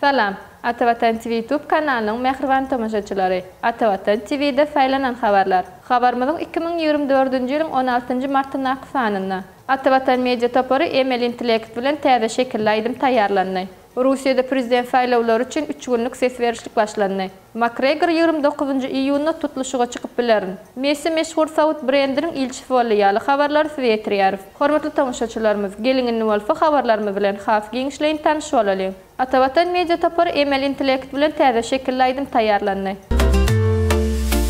Salam! Atavatan TV YouTube kanalynyň mähriban tomaşaçylary! Atavatan TV-de saýlanan habarlar. Habarymyzyň iki müň ýigrimi dördünji ýylyň on altynjy martyndaky sanynda Atavatan Media topary emeli intellekt bilen täze şekilli aýdym taýýarlandy. Russiýada prezident saýlawlary üçin üç günlük ses berişlik başlandy. Makgregor ýigrimi dokuzynjy iýunda tutluşyga çykyp bilerin. Messi meşhur saud brendiniň ilçisi boldy ýaly habarlary size ýetirýäris. Hormatly tomaşaçylarymyz, geliň indi bolsa habarlarymyz bilen has giňişleýin tanyş bolalyň. Atavatan media topary emeli intellekt bilen täze şekilli aýdym taýýarlandy.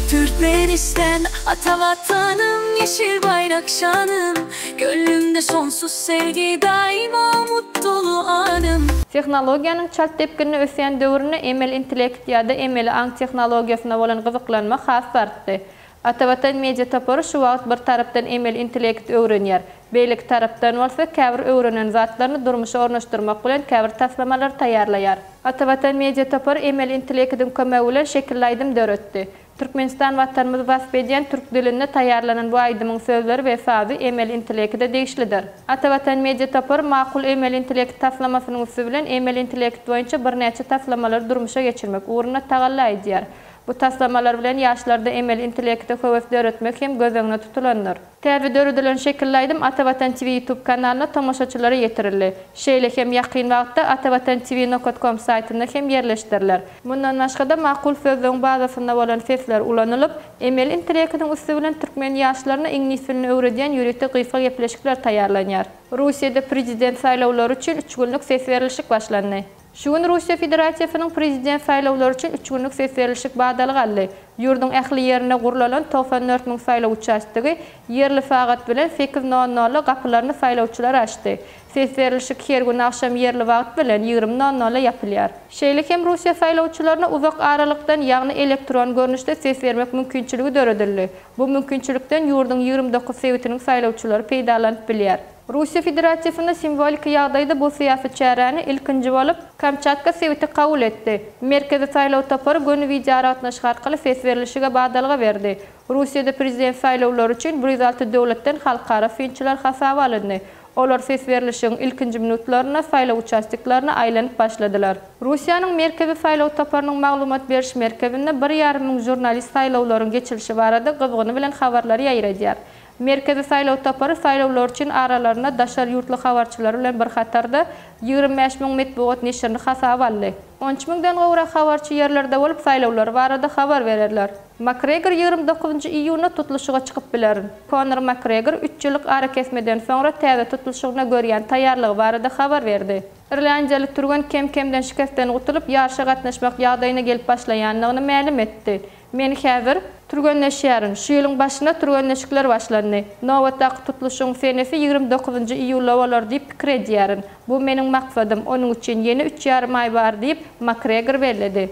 Türkmenistan, Ata Watanym, Ýeşil baýrak şanym, Göwnümde sonsuz sevgi daýyma mutlu anym. Tehnologiýanyň çalt depginde ösýän döwründe emeli intellekt ýa-da emeli aň tehnologiýasyna bolan gyzyklanma has-da artdy. Atavatan Media topary şu wagt bir tarapdan emeli intellekti öwrenýär, beýleki tarapdan bolsa käbir öwrenen zatlaryny durmuşa ornaşdyrmak bilen käbir taslamalary taýýarlaýar. Atavatan Media topary emeli intellektiň kömegi bilen şekilli aýdym döretdi. Türkmenistan Watanymyzy wasp edýän türk dilinde taýýarlanan bu aýdymyň sözleri we sazy emeli intelekide degişlidir. Ata Watan media topary Makul emeli intelekt taslamasynyň üsti bilen emeli intelekt boýunça birnäçe taslamalary durmuşa geçirmek ugrunda tagalla edýär. Bu taslamalar bilen ýaşlarda emeli intelekte höwes döretmek hem göz öňüne tutulandyr. Täze döredilen şekilli aýdym Ata Watan TV YouTube kanalyna tomaşaçylara ýetirildi. Şeýle hem ýakyn wagtda atavatantivi nokat kom saýtynda hem ýerleşdiriler. Mundan başga-da makul sözlügiň bazasynda bolan sesler ulanylyp, emeli intelektiň üsti bilen türkmen ýaşlaryna iňlis dilini öwredýän ýörite gysga gepleşikler taýýarlanýar. Russiýada prezident saýlawlary üçin üç günlük ses berilişik başlandy. Şu gün Russiýa Federasiýasynyň Prezident saýlawlary üçin üç günlük ses berilişik badaly galdy. Ýurduň ähli ýerinde gurlalan togsan dört müň saýlaw uçastogy ýerli sagat bilen sekiz nol nolda gapylaryny saýlawçylara açdy. Ses berilişik her gün agşam ýerli wagt bilen ýigrimi nol nolda ýapylýar. Şeýle hem Russiýa saýlawçylaryna uzak aralykdan, ýagny elektron görnüşde ses bermek mümkinçiligi döredildi. Bu mümkinçilikden ýurduň ýigrimi dokuz sebitiniň saýlawçylary peýdalanyp bilýär. Russiýa Federasiýasynda simwoliki ýagdaýda bu syýasy çäräni ilkinji bolup Kamçatka sebiti kabul etdi. Merkezi saýlaw topary göni wideoaragatnaşyk arkaly ses berlişige badalga berdi. Russiýada prezident saýlawlary üçin bir ýüz alty döwletden halkara synçylar hasaba alyndy. Olar ses berlişigiň ilkinji minutlarynda saýlaw uçastiklaryna aýlanyp başladylar. Russiýanyň Merkezi saýlaw toparynyň maglumat beriş merkezinde bir ýarym müň žurnalist saýlawlaryň geçilişi barada gyzgyny bilen habarlary ýaýradýar. Merkezi saýlaw topary saýlawlar üçin aralarynda daşary ýurtly habarçylary bilen bir hatarda, ýigrimi bäş müň metbugat neşirini hasaba aldy. On üç müňden gowrak habarçy ýerlerde bolup, saýlawlar barada habar bererler. Makgregor ýigrimi dokuzynjy iýunda tutluşyga çykyp biler. Konor Makgregor üç ýyllyk arakesmeden soňra täze tutluşygyna görýän taýýarlygy barada habar berdi. Irlandiýaly türgen kem-kemden şikesden gutulyp, ýaryşa gatnaşmak ýagdaýyna gelip başlaýandygyny mälim etdi. Men häzir türgenleşýärin. Şu ýylyň başynda türgenleşikler başlandy. Nobatdaky tutluşygyň senesi ýigrimi dokuzynjy iýulda bolar diýip pikir edýärin. Bu meniň maksadym, onuň üçin ýene üç ýarym aý bar diýip, Makgregor belledi.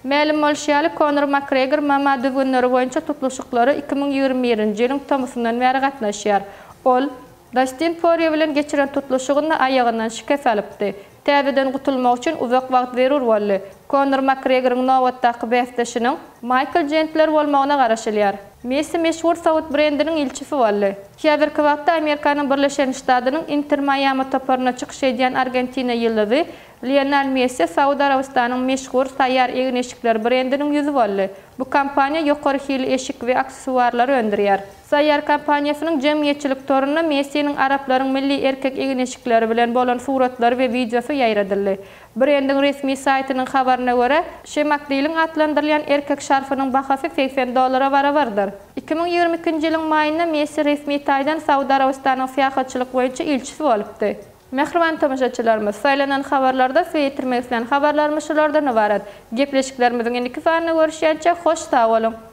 Mälim bolşy ýaly, Konor Makgregor MMA düzgünleri boýunça tutluşyklara iki müň ýigrimi birinji ýylyň tomusyndan bäri gatnaşýar. Ol. Dastin Porýe bilen geçiren tutluşygynda aýagyndan şikes alypdy. Täzeden gutulmak üçin uzak wagt zerur boldy. Konor Makgregoryň nobatdaky bäsdeşiniň Maýkl Jendler bolmagyna garaşylýar. Messi meşhur saud brendiniň ilçisi boldy. Häzirki wagtda Amerikanyň Birleşen Ştadynyň Inter Maýami toparyna çykyş edýän argentina ýyldyzy Lionel Messi Saud Arabystanyň meşhur Saýar egin-eşikler brendiniň ýüzi boldy. Bu kompaniýa ýokary hilli eşik we aksessuarlary öndürýär. Saýýar kompaniýasynyň jemgyýetçilik torunda Messiniň araplaryň milli erkek egin-eşikleri bilen bolan suratlary we wideosy ýaýradyldy. Brendiň resmi saýtynyň habaryna görä, Şemakliliň atlandyrylýan erkek şarfynyň bahasy segsen dollara barabardyr. Iki müň ýigrimi ikinji ýylyň maýynda Messi resmi taýdan Saud Arabystanyň syýahatçylyk boýunça ilçisi bolupdy. Mähriban tomaşaçylarymyz, saýlanan habarlarda size ýetirmek islän habarlarymyz şulardan ybarat. Gepleşiklerimiziň indiki sanyna görüşýänçä, hoş sag boluň!